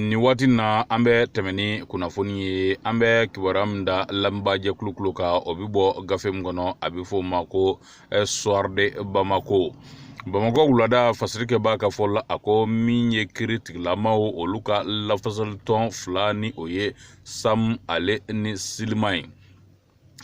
nin waati na an bɛ tɛmɛ ni kunnafoni ye an bɛ kibaruya min da lamɛnbaajɛkulu kulo kan o bɛ bɔ gafe min kɔnɔ a bɛ fɔ o ma ko le soir de bamako bamakɔ wulada fasirikɛbaa ka fɔ la a ko min ye kiri tigilamaw olu ka lafasalitɔn fila ni o ye sam ale ni silima ye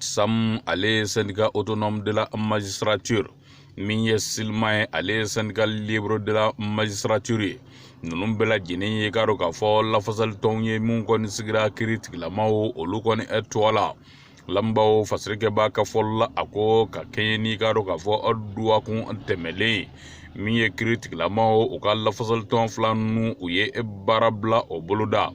sam ale ye syndicat autonome de la magistrature min ye silima ye ale ye syndicat libre de la magistrature ye ninnu bɛɛ lajɛlen ye k'a dɔn k'a fɔ lafasalitɔnw ye min kɔni sigira kiri tigilamaw olu kɔni ɛ tɔgɔ la lamɛnbaaw fasirikɛbaa ka fɔli la a ko ka kɛɲɛ n'i k'a dɔn k'a fɔ aw duwakun tɛmɛlen min ye kiri tigilamaw u ka lafasalitɔn fila ninnu u ye baarabila o boloda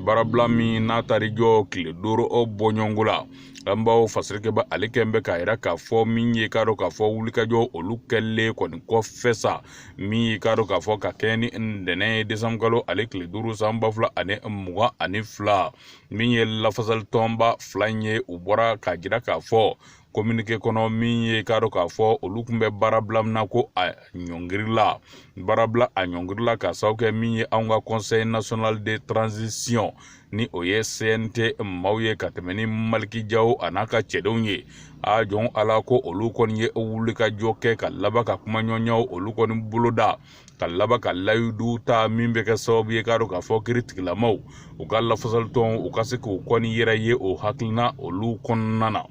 baarabila min n'a taar'i jɔ tile duuru o bɔɲɔgɔnko la lamɛnbaaw fasirikɛbaa ale kɛlen bɛ k'a yira k'a fɔ min ye k'a dɔn k'a fɔ wulikajɔw olu kɛlen kɔni kɔfɛ sa min ye k'a dɔn k'a fɔ ka kɛɲɛ ni ntɛnɛn ye desanburukalo ale tile duuru san ba fila ani mugan ani fila min ye lafasalitɔnba fila in ye u bɔra k'a jira k'a fɔ kominike kɔnɔ min ye k'a dɔn k'a fɔ olu tun bɛ baara bila min na ko a ɲɔngirila baara bila a ɲɔngirila ka sababu kɛ min ye anw ka conseil national de transition ni o ye cnt maaw ye ka tɛmɛ ni maliki jaw a n'a ka cɛdenw ye a jɔn ala ko olu kɔni ye wulikajɔ kɛ ka laban ka kumaɲɔgɔnyaw olu kɔni boloda ka laban ka layidu ta min bɛ kɛ sababu ye k'a dɔn k'a fɔ kiri tigilamaw u ka lafasalitɔnw u ka se k'u kɔni yɛrɛ ye o hakilina olu kɔnɔna na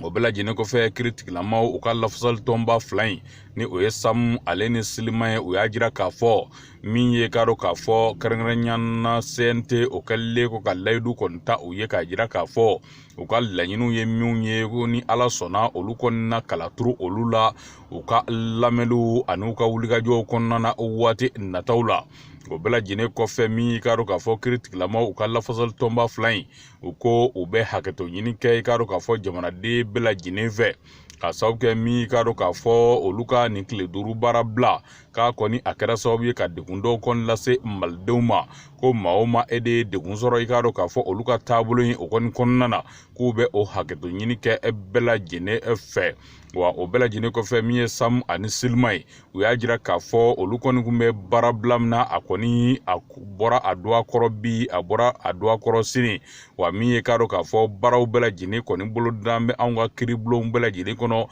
o bɛɛ lajɛlen kɔfɛ kiri tigilamaw u ka lafasalitɔnba fila in ni o ye samu ale ni silima ye u y'a jira k'a fɔ min ye k'a dɔn k'a fɔ kɛrɛnkɛrɛnnenya na cnt o kɛlen kɔ ka layidu kɔni ta u ye k'a jira k'a fɔ u ka laɲiniw ye minnu ye ko ni ala sɔnna olu kɔni na kala turu olu la u ka lamɛnliw an'u ka wulikajɔw kɔnɔna na waati nataw la o bɛɛ lajɛlen kɔfɛ min y'i k'a dɔn k'a fɔ kiri tigilamaw u ka lafasalitɔnba fila in u ko u bɛ hakɛto ɲini kɛ i k'a dɔn k'a fɔ jamanaden bɛɛ lajɛlen fɛ ka sababu kɛ min y'i k'a dɔn k'a fɔ olu ka nin tile duuru baara bila k'a kɔni a kɛra sababu ye ka degun dɔw kɔni lase malidenw ma ko maa o maa e de ye degun sɔrɔ i k'a dɔn k'a fɔ olu ka taabolo in o kɔni kɔnɔna na k'u bɛ o hakɛto ɲini kɛ bɛɛ lajɛlen fɛ wa o bɛɛ lajɛlen kɔfɛ min ye samu ani silima ye u y'a jira k'a fɔ olu kɔni kun bɛ baara bila min na a kɔni a bɔra a dɔgɔ kɔrɔ bi a bɔra a dɔgɔ kɔrɔ sini wa min ye k'a dɔn k'a fɔ baaraw bɛɛ lajɛlen kɔni bolodalen bɛ anw ka kiribulonw bɛɛ lajɛlen kɔnɔ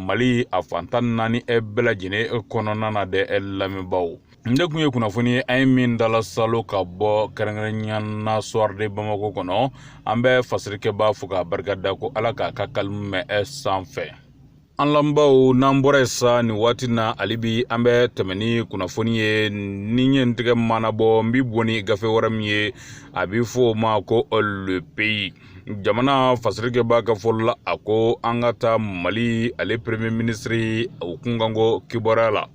mali a fan tan ni naani bɛɛ lajɛlen kɔnɔna na dɛ lamɛnbaaw nin de kun ye kunnafoni ye an ye min dala salo ka bɔ kɛrɛnkɛrɛnyana soir de bamako kɔnɔ an bɛ fasirikɛba fo k'a barika da ko ala k'a ka kalimu mɛn ɛ sanfɛ an lamɛnbaaw n'an bɔra yen sa nin waati na hali bi an bɛ tɛmɛ ni kunnafoni ye ni n ye n tɛgɛ mɔɔnɔbɔ n bi bɔ ni gafe wɛrɛ min ye a bi fɔ o ma ko le pays jamana fasirikɛba ka fɔli la a ko an ka taa mali ale premier ministre o kunkanko kibaruya la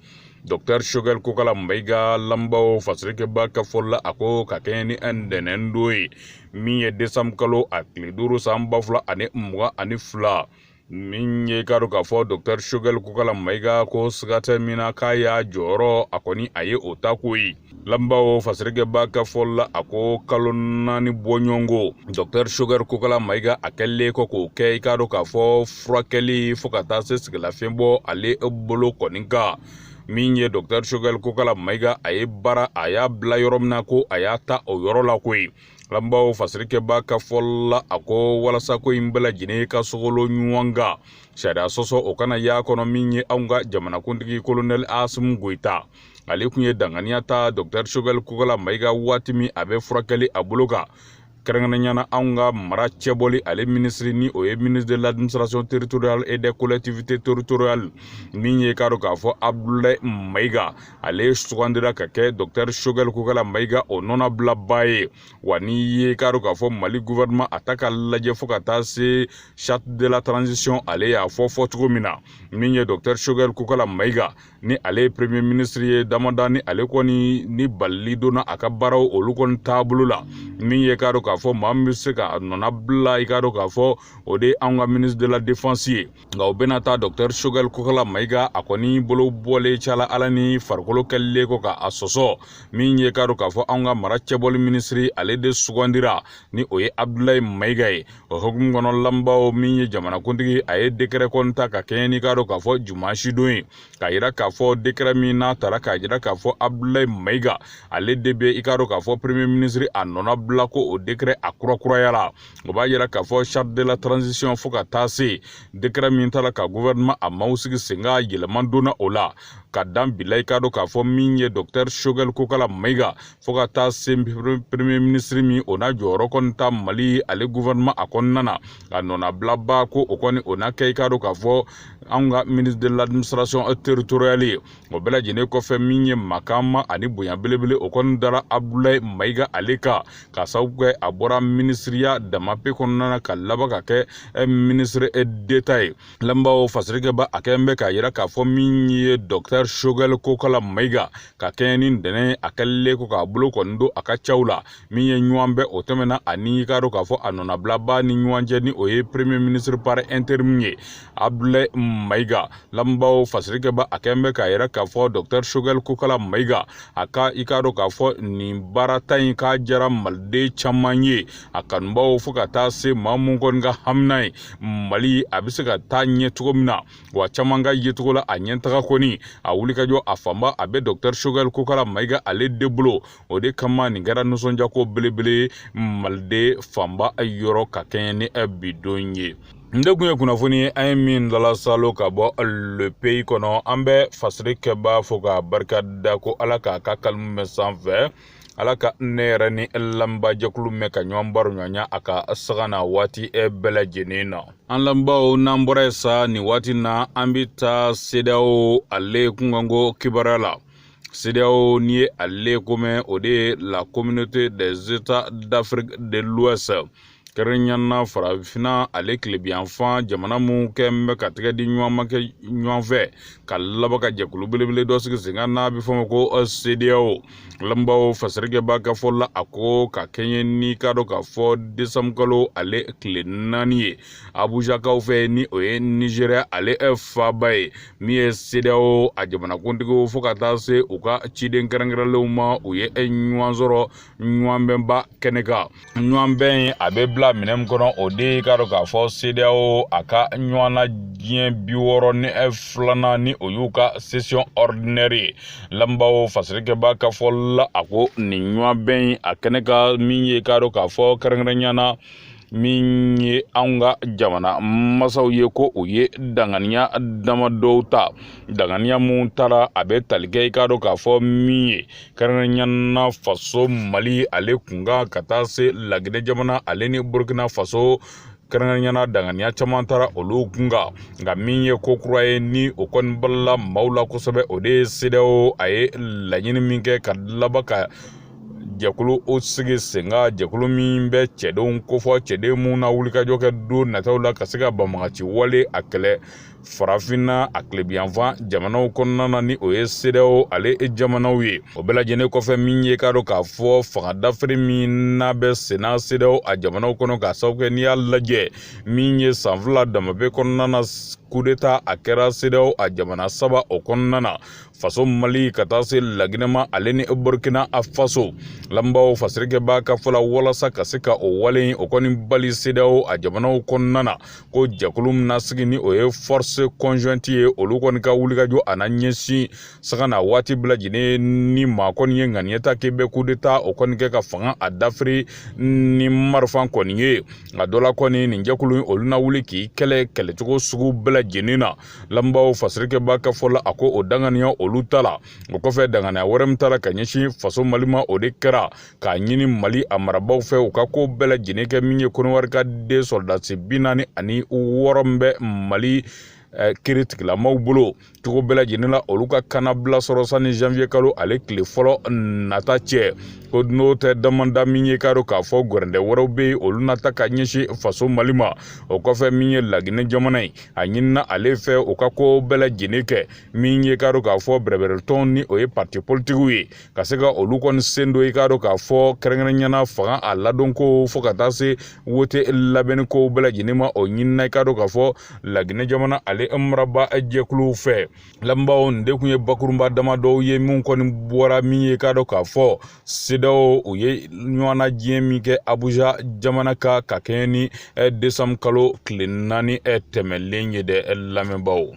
Dr. Choguel Kokalla Maïga lamɛnbaaw fasirikɛba ka fɔli la a ko ka kɛɲɛ ni ntɛnɛndon ye min ye desanbu kalo a tile duuru san ba fila ani mugan ani fila min ye k'a dɔn k'a fɔ Dr. Choguel Kokalla Maïga ko siga tɛ min na k'a y'a jɔyɔrɔ a kɔni a ye o ta koyi lamɛnbaaw fasirikɛba ka fɔli la a ko kalo naani bɔɲɔgɔnko dɔktɛr shogɛl kokala mayiga a kɛlen kɔ k'o kɛ i k'a dɔn k'a fɔ furakɛli fɔɔ ka taa se sɛgɛnlafiɲɛ bɔ ale bolo kɔni kan min ye dɔktɛr shogɛl kokala mayiga a ye baara a y'a bila yɔrɔ min na ko a y'a ta o yɔrɔ la koyi lamɛnbaaw fasirikɛba ka fɔli la a ko walasa ko in bɛɛ lajɛlen ka sogolon ɲɔgɔn kan sariya sɔsɔ o kana y'a kɔnɔ min ye anw ka jamanakuntigi kolonɛli asimi goyita ale tun ye danganiya ta dɔktɛr shogɛl kokala mayiga waati min a bɛ furakɛli a bolo kan kɛrɛnkɛrɛnyana anw ka mara cɛbɔli ale minisiri ni o ye ministre de l'administration territoriale et des collectivités territoriales min ye k'a dɔn k'a fɔ abdulayi mayiga ale sugandira ka kɛ docteur shogɛl kokala mayiga o nɔnabilaba ye wa n'i ye k'a dɔn k'a fɔ mali gouvernement a ta ka lajɛ fo ka taa se charte de la transition ale y'a fɔ fɔ cogo min na min ye docteur shogɛl kokala mayiga ni ale ye premier ministre ye damada ni ale kɔni ni balili donna a ka baaraw olu kɔni taabolo la min ye k'a dɔn k'a fɔ maa min bɛ se ka nɔna bila i k'a dɔn k'a fɔ o de ye anw ka ministre de la défense ye nka o bɛɛ n'a ta docteur shogɛl kokala mayiga a kɔni bolo bɔlen cala ala ni farikolo kɛlilen kɔ ka a sɔsɔ min ye k'a dɔn k'a fɔ anw ka mara cɛbɔli minisiri ale de sugandira ni o ye abdulayi mayiga ye o hukumu kɔnɔ lamɛnbaaw min ye jamanakuntigi a ye dekɛrɛ kɔni ta ka kɛɲɛ n'i k'a dɔn k'a fɔ dimasidon ye k'a yira k'a fɔ dekɛrɛ min n'a tara k'a yira k'a fɔ abudulayi mayiga ale de bɛ i k'a dɔn k'a fɔ premier minisiri a nɔna bila ko o dekɛrɛ a kurakurayara o b'a yira k'a fɔ charte de la transition fo ka taa se dekɛrɛ min tara ka gouvernement a maaw sigi sen kan yɛlɛma donna o la ka dan bila i k'a dɔn k'a fɔ min ye dɔktɛr shogɛl kokala mayiga fɔɔ ka taa se premier minisiri min o na jɔyɔrɔ kɔni ta mali ale gouvernement a kɔnɔna na k'a nɔnabilaba ko o kɔni o na kɛ i k'a dɔn k'a fɔ anw ka ministre de l'administration territoriale ye o bɛɛ lajɛlen kɔfɛ min ye makama ani bonya belebele o kɔni dara abdulayi mayiga ale kan k'a sababu kɛ a bɔra minisiriya dama pe kɔnɔna na ka laban ka kɛ eh, minisiri eh, d'état ye lamɛnbaaw fasirikɛba a kɛlen bɛ k'a yira k'a fɔ min ye dɔktɛr sogɛl kokala mayiga ka kɛɲɛ ni ntɛnɛ a tile ko k'a bolo kɔni don a ka caw la min ye ɲɔgɔnbɛn o tɛmɛna a ni i k'a dɔn k'a fɔ a nɔnabilaba ni ɲɔgɔn cɛ ni o ye premier ministre par interim ye abdulayi mayiga lamɛnbaaw fasirikɛba a kɛlen bɛ k'a yira k'a fɔ dɔktɛr sogɛl kokala mayiga a ka i k'a dɔn k'a fɔ nin baarata in k'a diyara maliden caman ye a kanubaw fo ka taa se maa minnu kɔni ka hamina ye mali a bɛ se ka taa ɲɛ cogo min na wa caman ka yecogo la a ɲɛtaga kɔni a wulikajɔ a fanba a bɛ dɔkitɛri sogɛli kokala mayiga ale de bolo o de kama nin kɛra nisɔndiyako belebele maliden fanba yɔrɔ ka kɛɲɛ ni bidon ye nin de kun ye kunnafoni ye an ye min lalasalo ka bɔ le pays kɔnɔ an bɛ fasirikɛbaa fo ka barika da ko ala k'a ka kalimu mɛn sanfɛ ala ka ne yɛrɛ ni lamɛnbaajɛkulu mɛn ka ɲɔgɔn baroɲɔgɔnya a ka sanga ni waati bɛɛ lajɛlen na an lamɛnbaaw n'an bɔra yen sa nin waati na an bɛ taa sedeyawo ale kunkanko kibaruya la sedeyawo n'i ye ale ko mɛn o de ye la communauté des états d'afrique de l'ouest kɛrɛnkɛrɛnnenya na farafinna ale tilebinyanfan jamana minnu kɛlen bɛ ka tɛgɛ di ɲɔgɔn ma kɛ ɲɔgɔn fɛ ka laban ka jɛkulu belebele dɔ sigi sen kan n'a bɛ fɔ o ma ko sedeyawo lamɛnbaaw fasirikɛba ka fɔ la a ko ka kɛɲɛ n'i k'a dɔn k'a fɔ desanburukalo ale tile naani ye abujakaw fɛ ni o ye nizeriya ale faba ye min ye sedeyawo a jamanakuntigiw fo ka taa se u ka ciden kɛrɛnkɛrɛnlenw ma u ye ɲɔgɔn sɔrɔ ɲɔgɔnbɛnba kɛnɛ kan ɲɔgɔnbɛn in a bɛ bila minɛn min kɔnɔ o de ye k'a dɔn k'a fɔ CEDEAO a ka ɲɔgɔnnajɛ bi wɔɔrɔ ni eh, filanan ni o y'u ka session ordinaire ye lamɛnbaaw fasirikɛba ka fɔ la a ko nin ɲɔgɔnbɛn in a kɛnɛ kan min ye k'a dɔn k'a fɔ kɛrɛnkɛrɛnnenya na min ye anw ka jamana masaw ye ko u ye danganiya dama dɔw ta danganiya minnu taara a bɛ tali kɛ i k'a dɔn k'a fɔ min ye kɛrɛnkɛrɛnya na faso mali ale kun kan ka taa se laginɛ jamana ale ni burkina faso kɛrɛnkɛrɛnya na danganiya caman taara olu kun kan nka min ye ko kura ye ni o kɔni balala maaw la kosɛbɛ o de ye sedeyawo a ye laɲini min kɛ ka laban ka jɛkulu o sigi sen kan jɛkulu min bɛ cɛdenw kofɔ cɛden minnu na wulikajɔ kɛ don nataw la ka se ka banbaganci wale a kɛlɛ farafinna a tilebinyanfan jamanaw kɔnɔna na ni o ye sedeyawo ale jamanaw ye o bɛɛ lajɛlen kɔfɛ min ye k'a dɔn k'a fɔ fanga dafiri min n'a bɛ senna sedeyawo a jamanaw kɔnɔ k'a sababu kɛ n'i y'a lajɛ min ye san fila dama pe kɔnɔna na kudeta a kɛra sedeyawo a jamana saba o kɔnɔna na faso mali ka taa se laginɛ ma ale ni burkina a faso lamɛnbaaw fasirikɛbaa ka fɔ la walasa ka se ka o wale o kɔni bali sedeyawo a jamanaw kɔnɔna na ko jɛkulu min na sigi ni o ye force conjointe ye olu kɔni ka wulikajɔ a na ɲɛsin sanga ni waati bɛɛ lajɛlen ni maa kɔni ye ŋaniya ta k'i bɛ coup d'état o kɔni kɛ ka fanga a dafiri ni marifa kɔni ye a dɔ la kɔni nin jɛkulu in olu na wuli k'i kɛlɛ kɛlɛcogo sugu bɛɛ lajɛlen na lamɛnbaaw fasirikɛba ka fɔ la a ko o daŋaniya olu tala o kɔfɛ daŋaniya wɛrɛ min tala ka ɲɛsin faso mali ma o de kɛra k'a ɲini mali a marabaaw fɛ u ka ko bɛɛ lajɛlen kɛ min ye koniwari ka den sɔrɔdasi bi naani ani wɔɔrɔ min bɛ mali eh, kiritigilamaw bolo cogo bɛɛ lajɛlen la olu ka kanabila sɔrɔ sani janvier kalo ale tile fɔlɔ nata cɛ ko n'o tɛ damanda min ye k'a dɔn k'a fɔ gɛrɛntɛ wɛrɛw bɛ yen olu na ta ka ɲɛsin faso mali ma o kɔfɛ min ye laginɛ jamana ye a ɲinina ale fɛ u ka ko bɛɛ lajɛlen kɛ min ye k'a dɔn k'a fɔ bɛrɛbɛrɛtɔnw ni o ye parti politikiw ye ka se ka olu kɔni sen don i k'a dɔn k'a fɔ kɛrɛnkɛrɛnya na fanga a ladonkow fo ka taa se wote labɛnni kow bɛɛ lajɛlen ma o ɲinina i k'a dɔn k'a fɔ laginɛ jamana ale maraba jɛkuluw fɛ lamɛnbaaw nin de tun ye bakurunba dama dɔw ye minw kɔni bɔra min ye k'a dɔn k'a fɔ cedeao u ye ɲɔgɔnna diɲɛ min kɛ abuja jamana kan ka kɛɲɛ ni eh, desanbu kalo tile naani eh, tɛmɛlen ye dɛ eh, lamɛnbaaw